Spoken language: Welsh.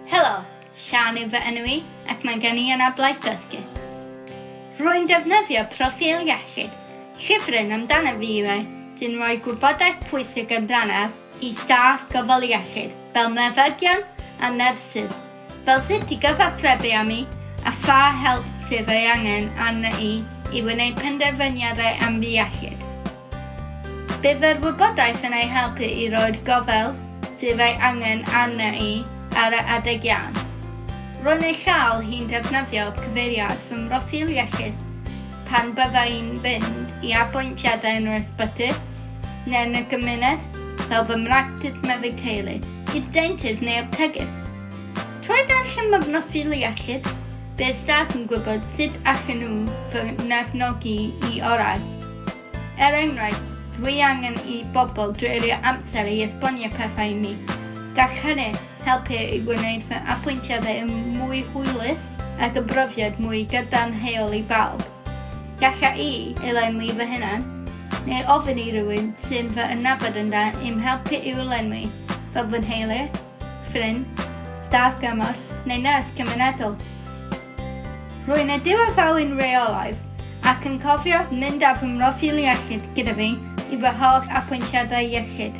Helo, Siân yw fy enw i ac mae gen i anablaid dysgu. Rwy'n defnyddio proffil iechyd, llyfryn amdana fi yw e, sy'n rhoi gwybodaeth pwysig amdanaf i staff gofal iechyd, fel meddygion a nyrsys, fel sut i gyfathrebu â mi a pha help sydd ei angen arna i i wneud penderfyniadau am fy iechyd. Bydd yr wybodaeth yn eu helpu i roi'r gofal sydd ei angen arni ar yr adeg iawn. Ro'n ei chael hi'n defnyddio cyfeiriad fy mhroffil iechyd pan bydda i'n mynd i apwyntiadau yn yr ysbyty neu yn y gymuned, fel fy mractis meddyg teulu, y deintydd neu aptegydd. Trwy ddarllen fy mhroffil iechyd, bydd staff yn gwybod sut allan nhw fy nghefnogi i orau. Er enghraifft, dwi angen i bobl dreulio amser i esbonio pethau i mi. Gall hynny helpu i wneud fy apwyntiadau yn mwy hwylus ac y brofiad mwy gadarnhaol i bawb. Galla i elenwi fy hunan, neu ofyn i rywun sy'n fy ynabod yn dda i'm helpu i'w lenwi, fel fy nheulu, ffrind, staff gymorth neu nyrs cymunedol. Rwy'n y diwethafwy'n reolaidd ac yn cofio mynd ar fy mroffil iechyd gyda fi i fy holl apwyntiadau iechyd.